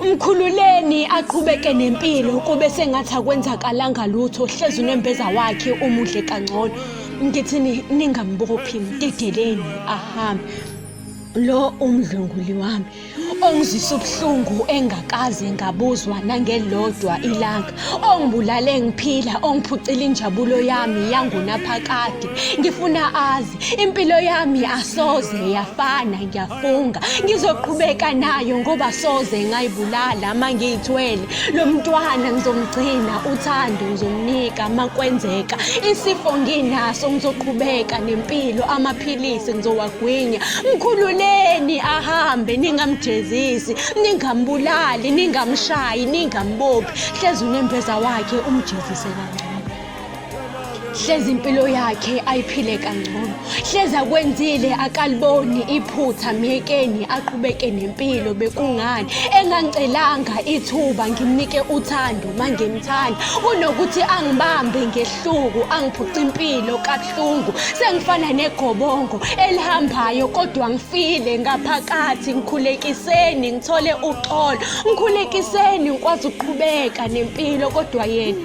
Mkhululeni aqhubeke nempilo kube sengathi akwenzakalanga lutho hlezi unembeza wakhe umudle kangcono ngithini ningambophi mdedeleni ahambe lo umdlunguli wami ongizisa ubuhlungu engakaze ngabuzwa nangelodwa ilanga ongibulale ngiphila ongiphucile injabulo yami yangunaphakade ngifuna azi Impilo yami asoze yafana ngiyafunga ngizoqhubeka nayo ngoba soze ngayibulala uma ngiyithwele lo mntwana ngizomgcina uthando ngizomnika uma kwenzeka isifo nginaso ngizoqhubeka nempilo amaphilisi ngizowagwinya mkhululeni ahambe ningamjezisi ningambulali ningamshayi ningambophi hlezi unembeza wakhe umjezise kancane hlezi impilo yakhe ayiphile kangcono hlezi akwenzile akaliboni iphutha myekeni aqhubeke nempilo bekungani engangicelanga ithuba ngimnike uthando mangimthanda kunokuthi angibambe ngehluku angiphuca impilo kabuhlungu sengifana negobongo elihambayo kodwa ngifile ngaphakathi ngikhulekiseni ngithole uxolo ngikhulekiseni ngikwazi ukuqhubeka nempilo kodwa yena